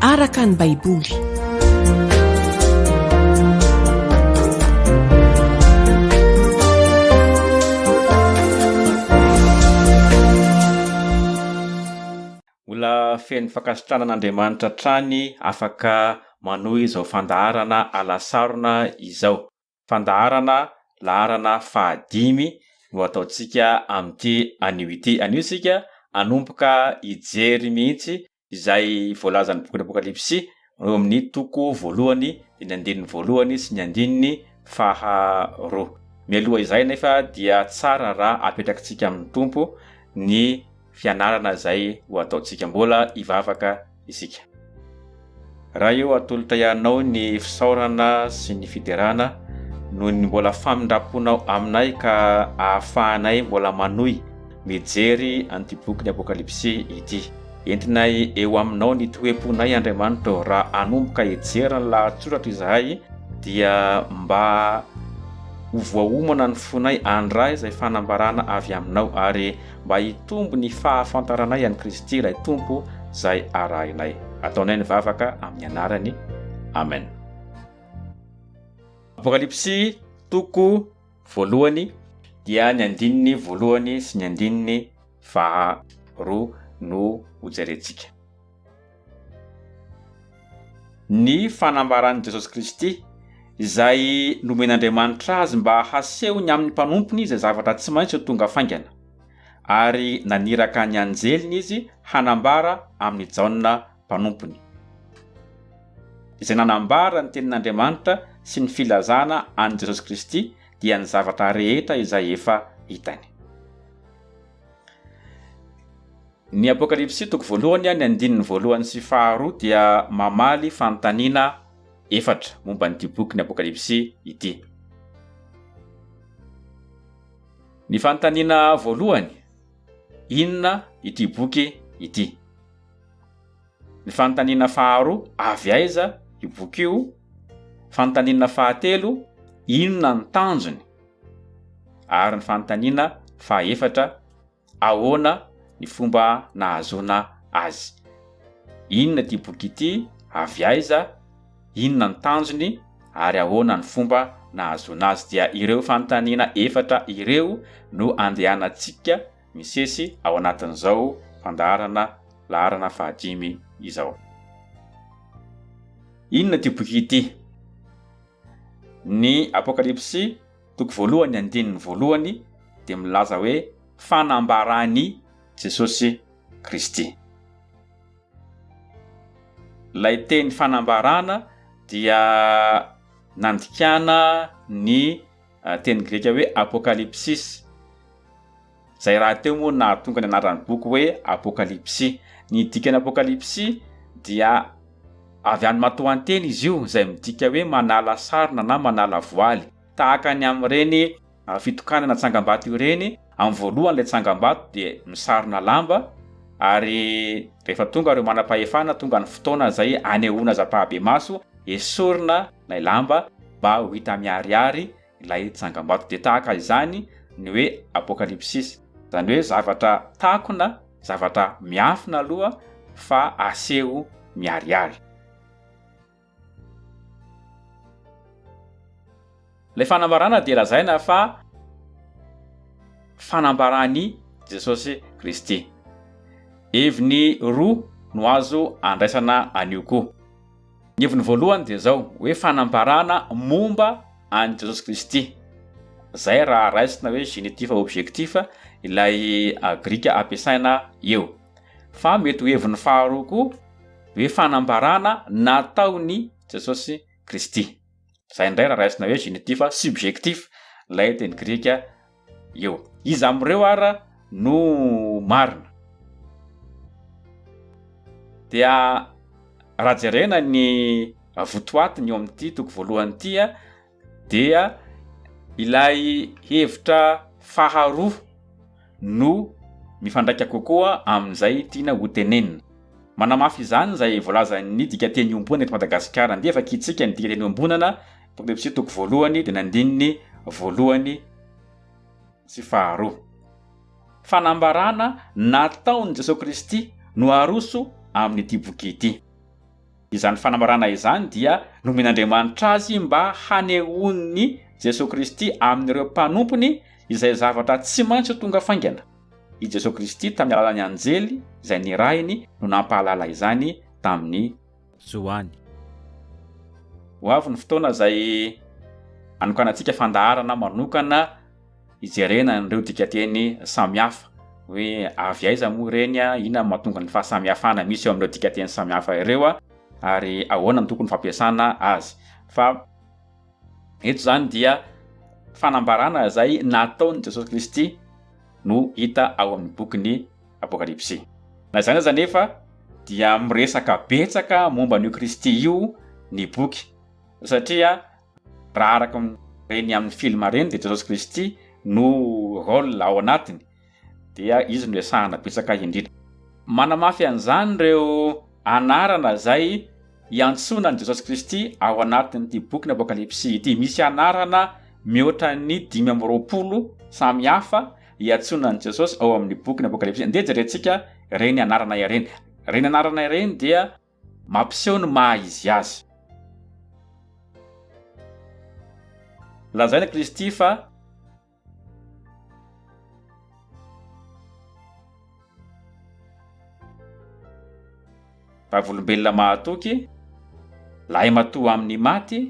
araka ny Baiboly. Mbola feno fankasitrahana an'Andriamanitra hatrany afaka manohy izao fandaharana alasarona izao. fandaharana laharana fahadimy no ataontsika amin'ity anio ity. Anio isika hanomboka hijery mihitsy izay voalazan'ny bokin'ny Apokalypsy eo amin'ny toko voalohany, ny andininy voalohany sy ny andininy faharoa. Mialoha izay anefa dia tsara raha apetrakintsika amin'ny Tompo ny fianarana izay ho ataontsika. Mbola hivavaka isika. Raha eo atolo-tahianao ny fisaorana sy ny fiderana noho ny mbola famindram-ponao aminay ka ahafahanay mbola manohy mijery an'ity bokin'ny Apokalypsy ity. Entinay eo aminao ny toe-ponay Andriamanitra ô, raha hanomboka hijery ny lahatsoratra izahay dia mba ho voaomana ny fonay handray izay fanambarana avy aminao ary mba hitombo ny fahafantaranay an'i Kristy ilay Tompo izay arahinay. Ataonay ny vavaka amin'ny anarany. Amen. Apokalypsy toko voalohany dia ny andininy voalohany sy ny andininy faharoa no hojerentsika. Ny fanambaran'i Jesosy Kristy, izay nomen'Andriamanitra azy mba hasehony amin'ny mpanompony izay zavatra tsy maintsy ho tonga faingana. Ary naniraka ny anjeliny izy hanambara amin'i Jaona mpanompony, izay nanambara ny tenin'Andriamanitra sy ny filazana an'i Jesosy Kristy, dia ny zavatra rehetra izay efa hitany. Ny Apokalypsy toko voalohany, ny andininy voalohany sy faharoa dia mamaly fanontaniana efatra momba an'ity bokin'ny Apokalypsy ity. Ny fanontaniana voalohany, inona ity boky ity? Ny fanontaniana faharoa, avy aiza io boky io? Fanontaniana fahatelo, inona ny tanjony? Ary ny fanontaniana fahaefatra, Ahoana ny fomba nahazoana azy? Inona ity boky ity? Avy aiza? Inona ny tanjony? Ary ahoana ny fomba nahazoana azy? Dia ireo fanontaniana efatra ireo no andehanantsika misesy ao anatin'izao fandaharana laharana fahadimy izao. Inona ity boky ity? Ny Apokalypsy Toko voalohany andininy voalohany dia milaza hoe fanambaran'i Jesosy Kristy. Ilay teny fanambarana dia nandikana ny teny grika hoe apokalypsis. Izay rahateo moa no nahatonga ny anaran'ny boky hoe Apokalypsy. Ny dikan'ny Apokalypsy dia avy amin'ny matoanteny izy io, izay midika hoe manala sarona na manala voaly. Tahaka ny amin'ireny fitokanana tsangambato ireny, amin'ny voalohany ilay tsangambato dia misarona lamba, ary rehefa tonga ireo manam-pahefana, tonga ny fotoana izay anehoana aza am-pahabemaso, esorina ilay lamba mba ho hita miharihary ilay tsangambato. Dia tahaka izany ny hoe Apokalipsis, izany hoe zavatra takona, zavatra miafina aloha fa aseho miharihary. Ilay fanambarana dia lazaina fa fanambaran'i Jesosy Kristy. Heviny roa no azo andraisana an'io koa. Ny heviny voalohany dia izao hoe fanambarana momba an'i Jesosy Kristy. Izay raha raisina hoe genitif objectif ilay grika ampiasaina eo. Fa mety ho heviny faharoa koa hoe fanambarana nataon'i Jesosy Kristy. Izay indray raha raisina hoe genitif subjectif ilay teny grika. eo. Iza amin'ireo ara no marina? Dia raha jerena ny votoatiny eo amin'ity toko voalohany ity dia ilay hevitra faharoa no mifandraika kokoa amin'izay tiana ho tenenina. Manamafy izany izay voalazan'ny dikateny iombonana eto Madagasikara. Andeha vakintsika ny dikateny iombonana. Tobebsy toko voalohany dia ny andininy voalohany sy faharoa. Fanambarana nataon'i Jesoa Kristy no aroso amin'ity boky ity. Izany fanambarana izany dia nomen'Andriamanitra azy mba hanehoan'i Jesoa Kristy amin'ireo mpanompony izay zavatra tsy maintsy ho tonga faingana. I Jesoa Kristy tamin'ny alalan'ny anjely izay nirahiny no nampahalala izany tamin'ny. zo any. Ho avy ny fotoana izay hanokanantsika fandaharana manokana hijerena an'ireo dikateny samihafa hoe avy aiza moa ireny, inona no mahatonga ny fahasamihafana misy eo amin'ireo dikateny samihafa ireo ary ahoana no tokony fampiasana azy. Fa eto izany dia fanambarana izay nataon'i Jesosy Kristy no hita ao amin'ny bokin'i. Apokalypsy. Na izany aza anefa, dia miresaka betsaka momba an'io Kristy io ny boky, satria raha araka ireny amin'ny filma ireny dia Jesosy Kristy no rôle ao anatiny, dia izy no resahana betsaka indrindra. Manamafy an'izany ireo anarana izay iantsoana an'i Jesosy Kristy ao anatin'ity bokin'ny Apokalypsy ity. Misy anarana mihoatra ny dimy amby roapolo samy hafa iantsoana an'i Jesosy ao amin'ny bokin'ny Apokalypsy. Andeha jerentsika ireny anarana ireny. Ireny anarana ireny dia mampiseho ny maha izy azy. Lazaina Kristy fa vavolombelona mahatoky, lahimatoa amin'ny maty,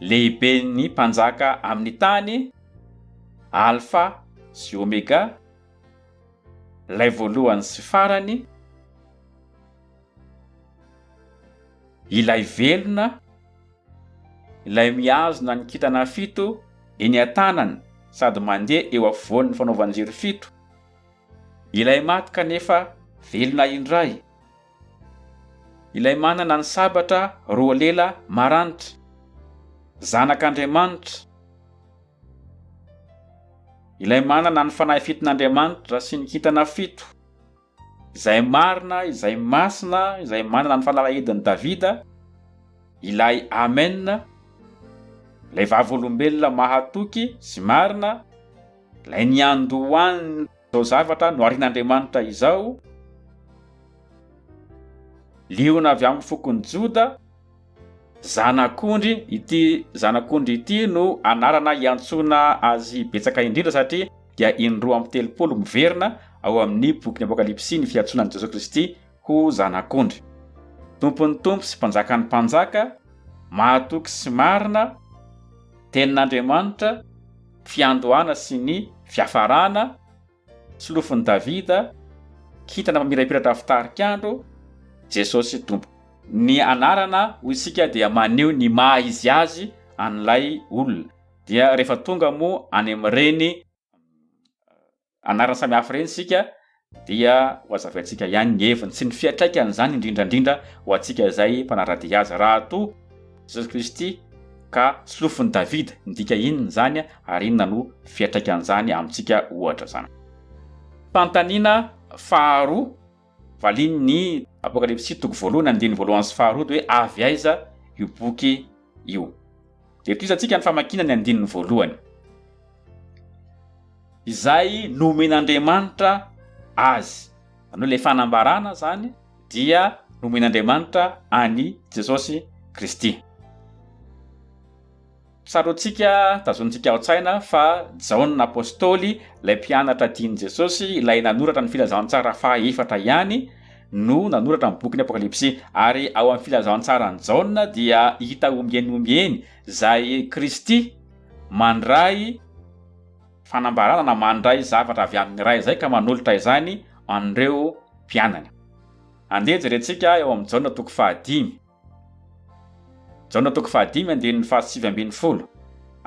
Lehiben'ny mpanjaka amin'ny tany, Alfa sy Omega, Ilay Voalohany sy Farany, Ilay Velona, Ilay mihazona ny kintana fito eny an-tanany sady mandeha eo afovoan'ny fanaovan-jiro fito, Ilay maty kanefa velona indray. Ilay manana ny sabatra roa lela maranitra. Zanak'Andriamanitra. Ilay manana ny fanahy fiton'Andriamanitra sy ny kintana fito. Izay marina, izay masina, izay manana ny fanalahidin'i Davida. Ilay Amen. Ilay vavolombelona mahatoky sy marina. Ilay niandohan'ny. Izao zavatra noharin'Andriamanitra izao, Liona avy amin'ny fokon'i Joda, Zanak'ondry, ity Zanak'ondry ity no anarana iantsoana azy betsaka indrindra satria dia in-roa amby telopolo miverina ao amin'ny bokin'ny Apokalypsy ny fiantsoana an'i Jesoa Kristy ho zanak'ondry. Tompon'ny tompo sy mpanjakan'ny mpanjaka, mahatoky sy marina, Tenin'Andriamanitra, fiandohana sy ny fiafarana, solofon'i Davida, kintana mamirapiratra avy tarik'andro, Jesosy Tompo. Ny anarana hoy isika dia maneho ny maha izy azy an'ilay olona, dia rehefa tonga moa any amin'ireny anarana samihafa ireny isika dia ho azavaintsika ihany ny heviny sy ny fiatraikany izany indrindra indrindra ho antsika izay mpanara-dia azy raha toa Jesosy Kristy ka solofon'i Davida midika inona izany ary inona no fiatraikan'izany amintsika ohatra izany. Fanontaniana faharoa. Valin' ny Apokalypsy toko voalohany andininy voalohany sy faharoa dia hoe avy aiza io boky io. Dia tohiza antsika ny famakiana ny andininy voalohany. Izay nomen' Andriamanitra azy. Izany hoe ilay fanambarana izany dia nomen' Andriamanitra an' i Jesosy Kristy. Tsaroantsika, tazonintsika ao an-tsaina fa Jaona Apostoly, ilay mpianatra tian'i Jesosy, ilay nanoratra ny Filazantsara faha efatra ihany, no nanoratra ny bokin'ny Apokalypsy. Ary ao amin'ny Filazantsaran'i Jaona dia hita ombieny ombieny izay Kristy mandray fanambarana na mandray zavatra avy amin'ny Ray izay ka manolotra izany an'ireo mpianany. Andeha jerentsika eo amin'ny Jaona toko faha dimy. Jaona toko fahadimy andininy fahasivy ambin'ny folo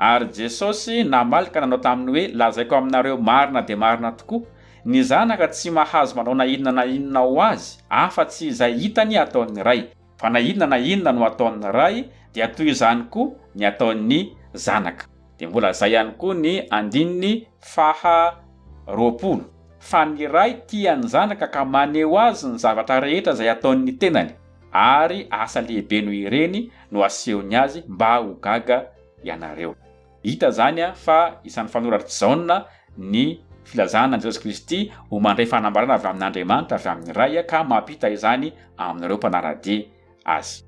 Ary Jesosy namaly ka nanao taminy hoe, Lazaiko aminareo marina dia marina tokoa, ny Zanaka tsy mahazo manao na inona na inona ho Azy, afa tsy izay hitany ataon'ny Ray, fa na inona na inona no ataon'ny Ray, dia toy izany koa ny ataon'ny Zanaka. Dia mbola izay ihany koa ny andininy faha roapolo Fa ny Ray tia ny Zanaka ka maneho Azy ny zavatra rehetra izay ataon'ny tenany. ary asa lehibe noho ireny no asehony azy mba ho gaga ianareo. Hita izany fa isan'ny fanoratry Jaona ny filazana an'i Jesosy Kristy ho mandray fanambarana avy amin'Andriamanitra, avy amin'ny Ray, ka mampita izany amin'ireo mpanara-dia azy.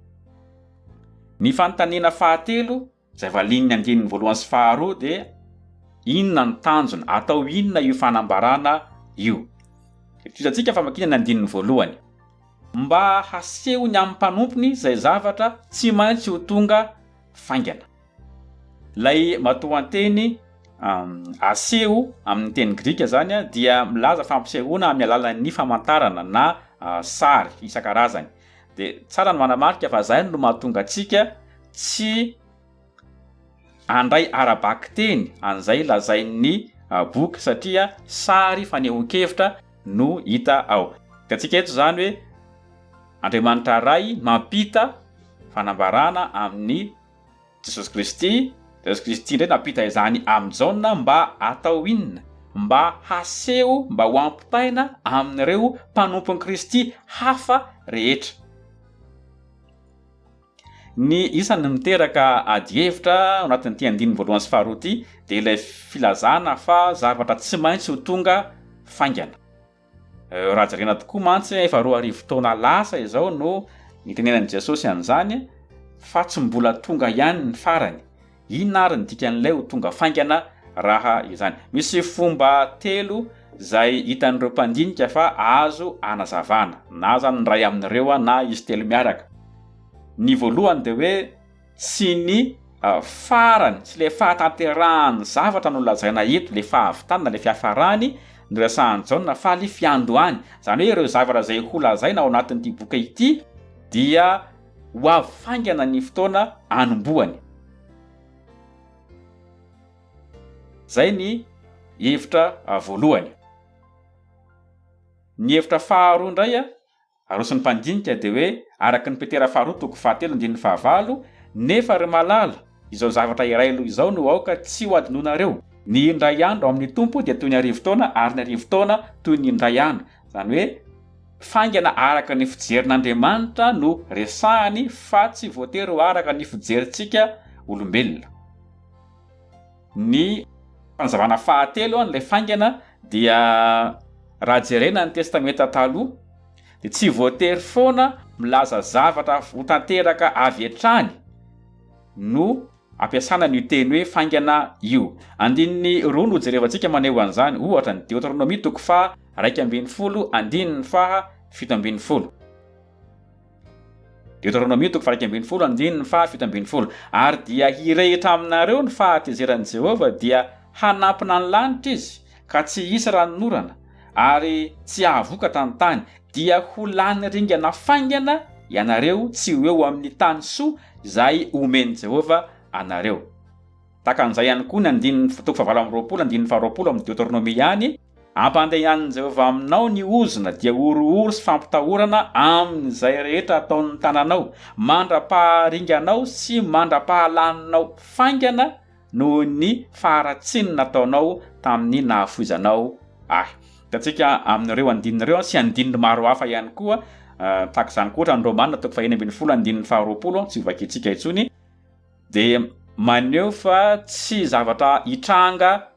Ny fanontaniana fahatelo Izay valian'ny andininy voalohany sy faharoa dia inona ny tanjona, atao inona io fanambarana io. Itovizantsika famakiana ny andininy voalohany. Mba hasehony amin'ny mpanompony izay zavatra tsy maintsy ho tonga faingana. Ilay matoanteny aseho amin'ny teny grika izany dia milaza fampisehoana amin'ny alalan'ny famantarana na sary isan-karazany. de tsara ny manamarika fa zay no mahatonga antsika tsy andray ara-bakiteny an'izay lazain'ny ah, boky satria sary fanehoan-kevitra no hita ao. Hitantsika eto izany hoe Andriamanitra Ray mampita fanambarana amin'ny Jesosy Kristy, Jesosy Kristy indray nampita izany amin'i Jaona mba hatao inona? Mba haseho mba ho ampitaina amin'ireo mpanompon'i Kristy hafa rehetra. Ny isan'ny miteraka adihevitra ao anatin'ity andininy voalohany sy faharoa ity dia ilay filazana fa zavatra tsy maintsy ho tonga faingana. Eh, raha jerena tokoa mantsy efa roa arivo taona lasa izao no nitenenan'i Jesosy an'izany fa tsy mbola tonga ihany ny farany. Inona ary ny dikan'ilay ho tonga faingana raha izany? Misy fomba telo izay hitan'ireo mpandinika fa azo anazavana, na izany ny iray amin'ireo na izy telo miaraka. Ny voalohany dia hoe Tsy ny farany, tsy ilay fahatanterahan'ny zavatra no lazaina eto, ilay fahavitany na ilay fiafarany no resahan'i Jaona fa ilay fiandohany. Izany hoe ireo zavatra izay ho lazaina ao anatin'ity boky ity dia ho avy faingana ny fotoana anombohany. Izay ny hevitra voalohany. Ny hevitra faharoa indray Aroson'ny mpandinika dia hoe araka ny Petera faharoa toko fahatelo andininy fahavalo, Nefa ry malala, izao zavatra iray aloha izao no aoka tsy ho adinonareo, ny indray andro ao amin'ny Tompo dia toy ny arivo taona ary ny arivo taona toy ny indray andro, izany hoe faingana araka ny fijerin'Andriamanitra no resahany fa tsy voatery ho araka ny fijerintsika olombelona. Ny fanazavana fahatelo an'ilay faingana dia raha jerena ny Testamenta Taloha dia tsy voatery foana milaza zavatra ho tanteraka avy hatrany no ampiasana an'io teny hoe faingana io. Andininy roa no hojerevantsika maneho an'izany, ohatra, ny Deoteronomia toko faha iraika ambin'ny folo, andininy faha fito ambin'ny folo. Deoteronomia toko faha iraika ambin'ny folo andininy faha fito ambin'ny folo Ary dia hirehitra aminareo ny fahatezeran'i Jehovah, dia hanampina ny lanitra izy, ka tsy hisy ranonorana, ary tsy hahavokatra ny tany, dia ho lany ringana faingana ianareo tsy ho eo amin'ny tany soa izay omen'i Jehovah anareo. Tahaka an'izay ihany koa ny andininy toko fahavalo amby roapolo andininy faharoapolo amin'ny Deoteronomia ihany, Ampandehanin'i Jehovah aminao ny ozona, dia horohoro sy fampitahorana amin'izay rehetra ataon'ny tananao, mandra-paharinganao sy mandra-pahalaninao faingana noho ny faharatsiany nataonao tamin'ny nahafoizanao ahy. Hitantsika amin'ireo andininy ireo sy andininy maro hafa ihany koa tahaka izany koa, ohatra, ny Romana toko fahenina ambin'ny folo andininy faharoapolo, tsy hovakintsika intsony. dia maneho fa tsy zavatra hitranga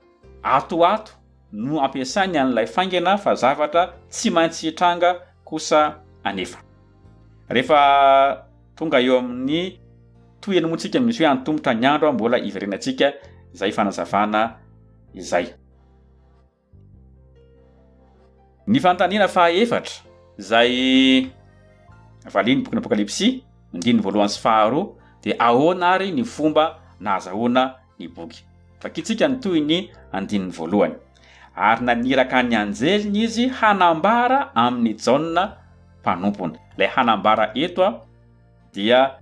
ato ho ato no ampiasainy an'ilay faingana fa zavatra tsy maintsy hitranga kosa anefa. Rehefa tonga eo amin'ny tohiny moa tsika misy hoe antomotra ny andro mbola hiverenantsika izay fanazavana izay. Ny fanontaniana faha efatra izay valian'ny bokin'ny Apokalypsy, andininy voalohany sy faharoa, dia ahoana ary ny fomba nahazahoana ny boky? Vakintsika ny tohin'ny andininy voalohany, Ary naniraka ny anjeliny izy hanambara amin'i Jaona mpanompony. Ilay hanambara eto dia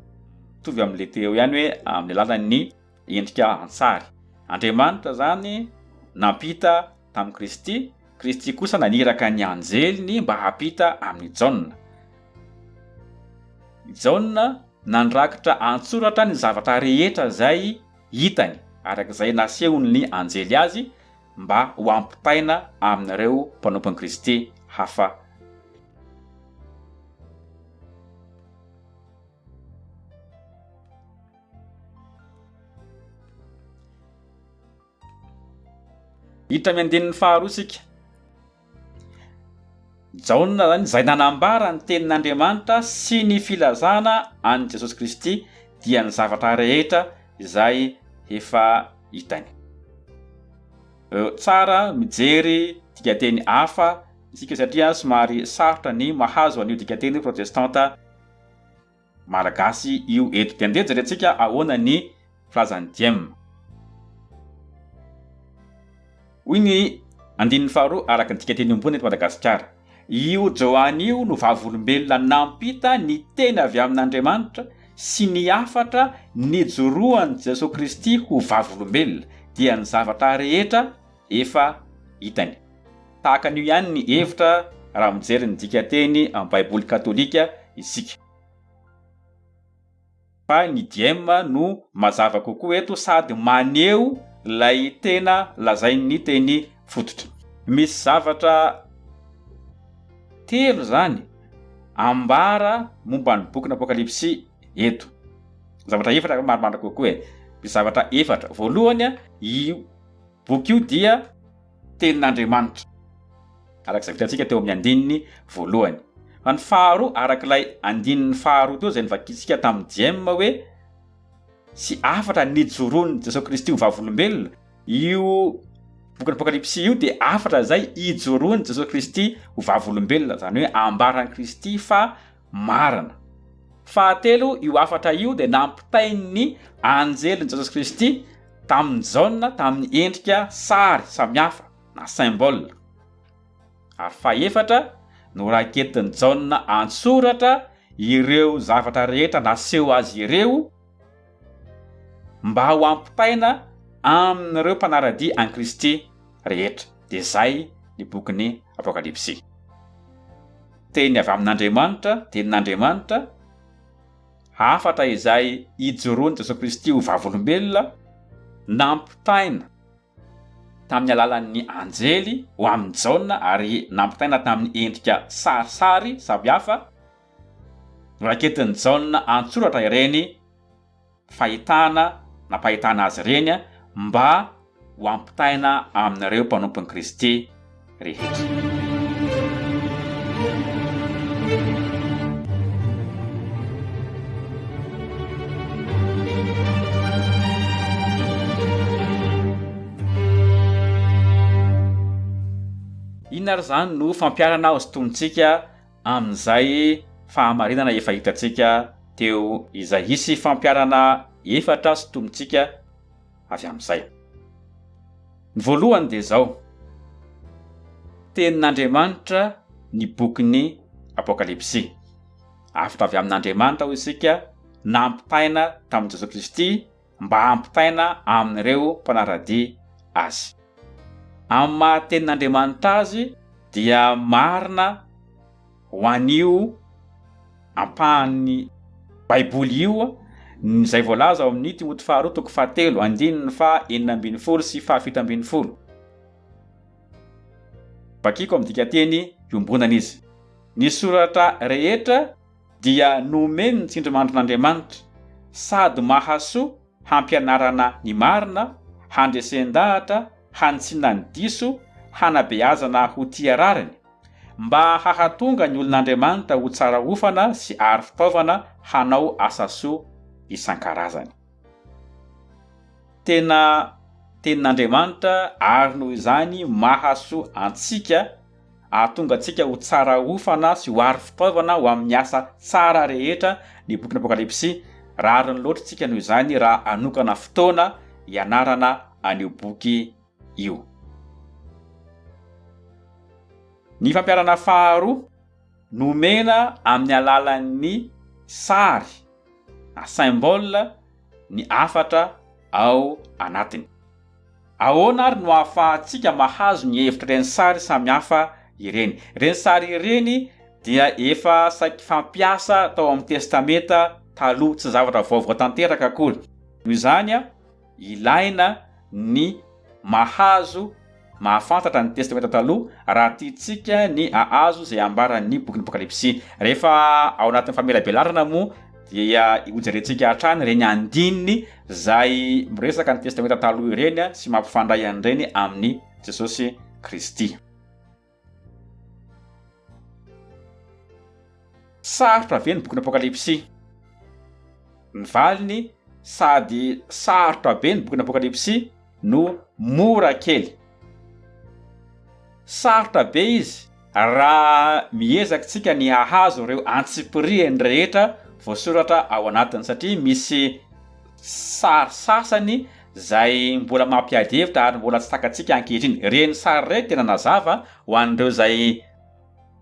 mitovy amin'ilay teo ihany hoe amin'ny alalan'ny endrika an-tsary. Andriamanitra izany nampita tamin'i Kristy, Kristy kosa naniraka ny anjeliny mba hampita amin'i Jaona. I Jaona nandrakitra an-tsoratra ny zavatra rehetra izay hitany, araka izay nasehon'ny anjely azy, mba ho ampitaina amin'ireo mpanompon'i Kristy hafa. Hiditra amin'ny andininy faharoa isika. Jaona izany izay nanambara ny tenin'Andriamanitra sy ny filazana an'i Jesosy Kristy dia ny zavatra rehetra izay efa hitany. Tsara mijery dikateny hafa isika satria somary sarotra ny mahazo an'io dikateny protestanta Malagasy io eto. Dia ndeha jerentsika ahoana ny filazan'i Diem. Hoy ny andininy faharoa araka ny dikateny ambony eto Madagasikara, Io Joany io no vavolombelona nampita ny teny avy amin'Andriamanitra sy ny hafatra nijoroan'i Jesoa Kristy ho vavolombelona, dia ny zavatra rehetra, efa hitany. Tahaka an'io ihany ny hevitra raha mijery ny dikanteny amin'ny Baiboly katolika isika. Fa ny diem no mazava kokoa eto sady maneho ilay tena lazain'ny teny fototra. Misy zavatra telo izany ambara momba ny bokin'ny Apokalypsy eto. Zavatra efatra angamba maromaro kokoa e. Misy zavatra efatra. Voalohany, io Boky io dia Tenin'Andriamanitra, araka izay vitantsika teo amin'ny andininy voalohany. Fa ny faharoa, araka ilay andininy faharoa teo izay novakintsika tamin'i Jm. Hoe, sy hafatra nijoroan'i Jesoa Kristy ho vavolombelona, io bokin'ny Apokalypsy io dia hafatra izay ijoroan'i Jesoa Kristy ho vavolombelona, izany hoe ambaran'i Kristy fa marina. Fahatelo, io hafatra io dia nampitain'ny anjelin'i Jesosy Kristy tamin'i Jaona tamin'ny endrika sary samihafa na symbole. Ary fahefatra, noraketin'i Jaona an-tsoratra ireo zavatra rehetra naseho azy ireo, mba ho ampitaina amin'ireo mpanara-dia an'i Kristy rehetra, dia izay ny bokin'ny Apokalypsy. Teny avy amin'Andriamanitra, Tenin'Andriamanitra, hafatra izay ijoroan'i Jesoa Kristy ho vavolombelona, nampitaina tamin'ny alalan'ny anjely ho amin'i Jaona ary nampitaina tamin'ny endrika sarisary samihafa, Noraketin'i Jaona an-tsoratra ireny fahitana nampahitana azy ireny mba ho ampitaina amin'ireo mpanompon'i Kristy rehetra. Inona ary izany no fampiharana hosintonintsika amin'izay fahamarinana efa hitantsika teo izay. Hisy fampiharana efatra sintomintsika avy amin'izay. Ny voalohany dia izao, Tenin'Andriamanitra ny bokin'ny Apokalypsy. Avotra avy amin'Andriamanitra hoy isika, nampitaina tamin'i Jesoa Kristy, mba hampitaina amin'ireo mpanara-dia azy. Amin'ny maha-Tenin'Andriamanitra azy dia marina ho an'io ampahan'ny Baiboly io ny izay voalaza ao amin'ny Timoty faharoa toko fahatelo andininy faha enina ambin'ny folo sy faha fito ambin'ny folo. Vakiko amin'ny dikanteny iombonana izy. Ny soratra rehetra dia nomen' ny tsindrimandrin' Andriamanitra sady mahasoa hampianarana ny marina, handresen-dahatra, hanitsiana ny diso, hanabeazana ho tia rariny, mba hahatonga ny olon' Andriamanitra ho tsara hofana sy aro fitaovana hanao asa soa isan-karazany. Tena Tenin' Andriamanitra ary noho izany mahasoa antsika, Hahatonga antsika ho tsara hofana sy ho aro fitaovana ho amin'ny asa tsara rehetra ny bokin'ny Apokalypsy. Rariny loatra isika noho izany raha hanokana fotoana hianarana an'io boky io. Ny fampiharana faharoa nomena amin'ny alalan'ny sary na symbole ny hafatra ao anatiny. Ahoana àry no ahafahantsika mahazo ny hevitr'ireny sary samihafa ireny? Ireny sary ireny dia efa saiky fampiasa tao amin'ny Testamenta Taloha, tsy zavatra vaovao tanteraka akory. Noho izany, ilaina ny mahazo mahafantatra ny Testamenta Taloha raha tiantsika ny hahazo izay ambaran'ny bokin'Apokalypsy. Rehefa ao anatin'ny famelabelarana moa, dia hojerentsika hatrany ireny andininy izay miresaka ny testamenta taloha ireny sy mampifandray an'ireny amin'ny Jesosy Kristy. Sarotra ve ny bokin'ny Apokalypsy? Ny valiny, sady sarotra be ny bokin'ny Apokalypsy no mora kely. Sarotra be izy raha miezaka tsika ny hahazo ireo antsipiriany rehetra voasoratra ao anatiny satria misy sary sasany izay mbola mampiady hevitra ary mbola tsy takatsika ankehitriny. Ireny sary ireny tena nazava ho an'ireo izay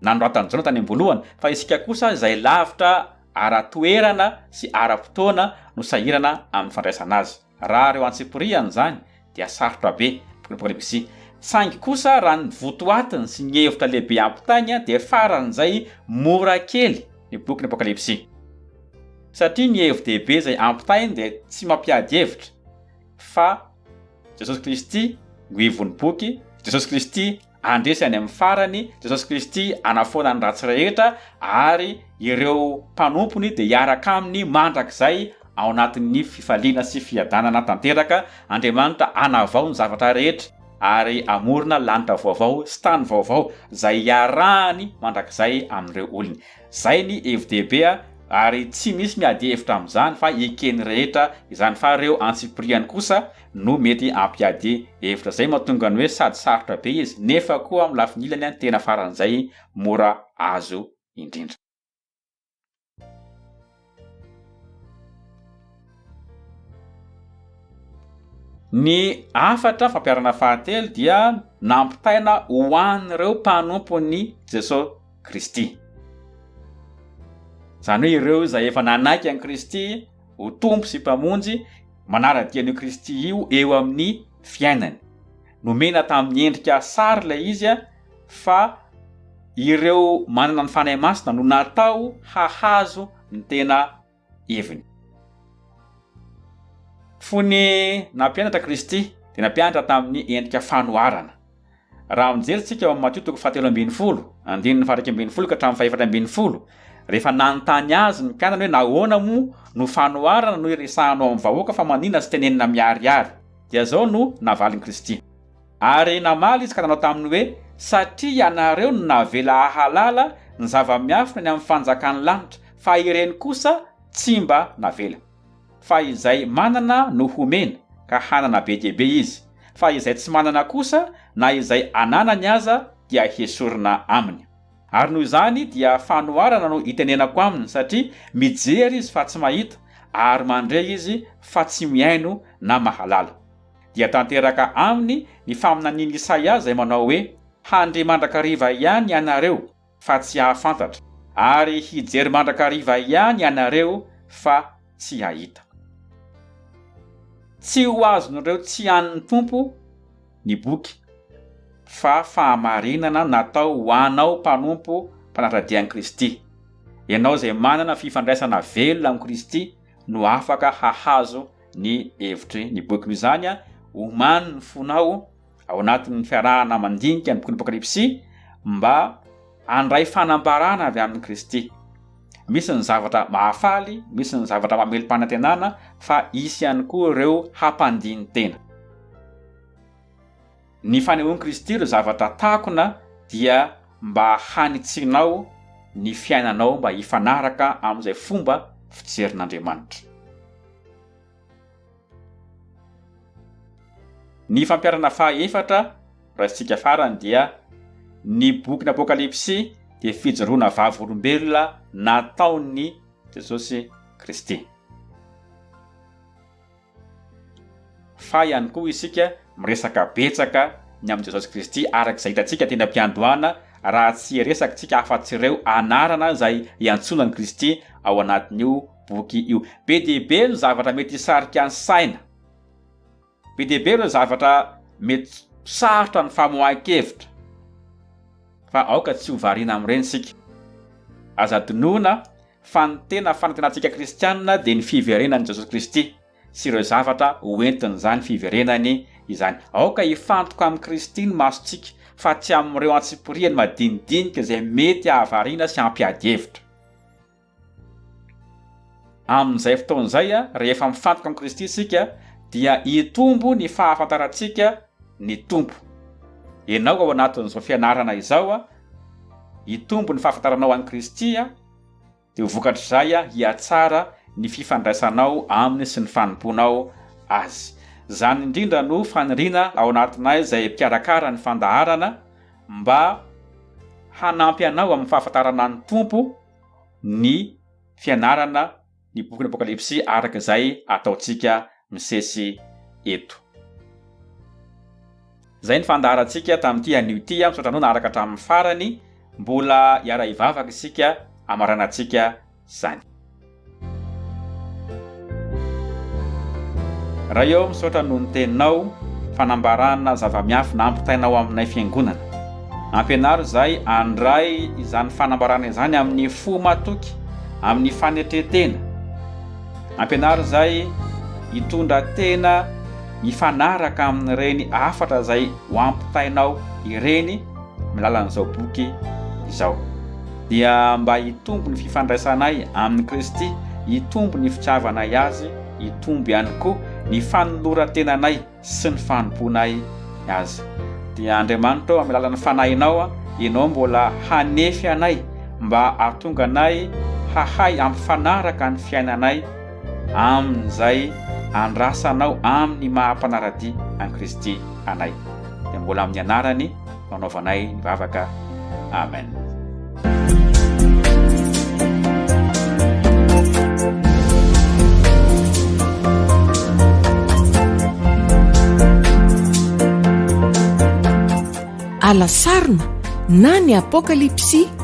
nanoratan'i Jona tany am-boalohany fa isika kosa izay lavitra ara-toerana sy ara-potoana no sahirana amin'ny fandraisana azy. Raha reo antsipiriany izany dia sarotra be, Prolixi, saingy kosa raha ny votoatiny sy ny hevitra lehibe ampitainy dia faran'izay mora kely ny bokin'ny Apokalypsy. Satria ny hevi-dehibe izay ampitainy dia tsy mampiady hevitra fa Jesosy Kristy no ivon'ny boky, Jesosy Kristy Handresy any amin'ny farany Jesosy Kristy hanafoana ny ratsy rehetra ary ireo mpanompony dia hiaraka aminy mandrakizay ao anatin'ny fifaliana sy fiadanana tanteraka. Andriamanitra hanavao ny zavatra rehetra ary hamorona lanitra vaovao sy tany vaovao izay hiarahany mandrakizay amin'ireo olony. Izay ny hevi-dehibe ary tsy misy miady hevitra amin'izany fa eken'ny rehetra izany fa ireo antsipiriany kosa no mety hampiady hevitra izay mahatonga ny hoe sady sarotra be izy nefa koa amin'ny lafiny ilany ny tena faran'izay mora azo indrindra. Ny hafatra fampiharana fahatelo dia nampitaina ho an'ireo mpanompon'i Jesoa Kristy. Izany hoe ireo izay efa nanaiky an'i Kristy, ho Tompo sy Mpamonjy manara-dia an'io Kristy io eo amin'ny fiainany. Nomena tamin'ny endrika sary ilay izy fa ireo manana ny Fanahy Masina no natao hahazo ny tena heviny. Fony nampianatra Kristy dia nampianatra tamin'ny endrika fanoharana. Raha mijery tsika ao amin'ny Matio toko fahatelo ambin'ny folo, andininy fahairaika ambin'ny folo ka hatramin'ny fahefatra ambin'ny folo, rehefa nanontany azy ny mpianany hoe nahoana moa no fanoharana no iresahanao amin'ny vahoaka fa manina sy tenenina miharihary? dia izao no navalin'i Kristy. Ary namaly izy ka nanao taminy hoe, Satria ianareo no navela hahalala ny zava-miafina ny amin'ny fanjakan'ny lanitra, fa ireny kosa tsy mba navela. Fa izay manana no homena, ka hanana be dia be izy, fa izay tsy manana kosa, na izay ananany aza, dia hesorina aminy. Ary noho izany dia fanoharana no itenenako aminy, satria mijery izy fa tsy mahita, ary mandre izy fa tsy mihaino na mahalala. Dia tanteraka aminy ny faminanian'i Isaia izay manao hoe, Handre mandrakariva ihany ianareo, fa tsy hahafantatra, ary hijery mandrakariva ihany ianareo fa tsy hahita. Tsy ho azon'ireo tsy an'ny Tompo ny boky, fa fahamarinana natao ho anao mpanompo mpanara-dia an'i Kristy. Ianao izay manana fifandraisana velona amin'i Kristy no afaka hahazo ny hevitry ny boky. Noho izany, omano ny fonao. ao anatin'ny fiarahana mandinika ny bokin'ny Apokalypsy mba handray fanambarana avy amin'i Kristy. Misy ny zavatra mahafaly, misy ny zavatra mamelom-panantenana, fa hisy ihany koa ireo hampandini-tena. Ny fanehoan'i Kristy ireo zavatra takona dia mba hanitsianao ny fiainanao mba hifanaraka amin'izay fomba fijerin'Andriamanitra. Ny fampiharana faha efatra raisintsika farany dia ny bokin' Apôkalipsy dia fijoroana vavolombelona nataon' i Jesosy Kristy. Faly ihany koa isika miresaka betsaka ny amin' i Jesosy Kristy araka izay hitantsika teny am-piandohana raha tsy hiresaky tsika afa-tsy ireo anarana izay iantsoana an' i Kristy ao anatin' io boky io. Be dia be ny zavatra mety hisarika ny saina. Be dia be ireo zavatra mety sarotra ny famoahan-kevitra. Fa aoka tsy ho variana amin'ireny isika. Aza adinoina fa ny tena fanantenantsika kristianina dia ny fiverenan'i Jesosy Kristy sy ireo zavatra hoentin'izany fiverenany izany. Aoka hifantoka amin'i Kristy ny masontsika fa tsy amin'ireo antsipiriany madinidinika izay mety hahavariana sy hampiady hevitra. Amin'izay fotoana izay, rehefa mifantoka amin'i Kristy isika, dia hitombo ny fahafantarantsika ny Tompo. Ianao ao anatin'izao fianarana izao, hitombo ny fahafantaranao an'i Kristy, dia ho vokatr'izay hihatsara ny fifandraisanao Aminy sy ny fanompoanao Azy. Izany indrindra no faniriana ao anatinay izay mpikarakara ny fandaharana, mba hanampy anao amin'ny fahafantarana ny Tompo, ny fianarana ny bokin'ny Apokalypsy araka izay ataontsika misesy eto. Izay ny fandaharantsika tamin'ity anio ity. Misaotra anao naharaka hatramin'ny farany. Mbola hiara-hivavaka isika hamaranantsika izany. Ray ô misaotra noho ny teninao, fanambarana zava-miafy nampitainao aminay fiangonana. Ampianaro izahay handray izany fanambarana izany amin'ny fo matoky, amin'ny fanetren-tena. Ampianaro izahay hitondra tena mifanaraka amin'ireny hafatra izay ho ampitainao ireny, amin'ny lalan'izao boky izao dia mba hitombo ny fifandraisanay amin'i Kristy, hitombo ny fitiavanay Azy, hitombo ihany koa ny fanoloran-tenanay sy ny fanompoanay Azy. Dia Andriamanitra ô, amin'ny alalan'ny Fanahinao, Ianao mbola hanefy anay mba hahatonga anay hahay hampifanaraka ny fiainanay amin'izay andrasanao amin'ny maha-mpanara-dia an'i Kristy anay. dia mbola amin'ny anarany no anaovanay ny vavaka amen alasarina na ny apokalypsy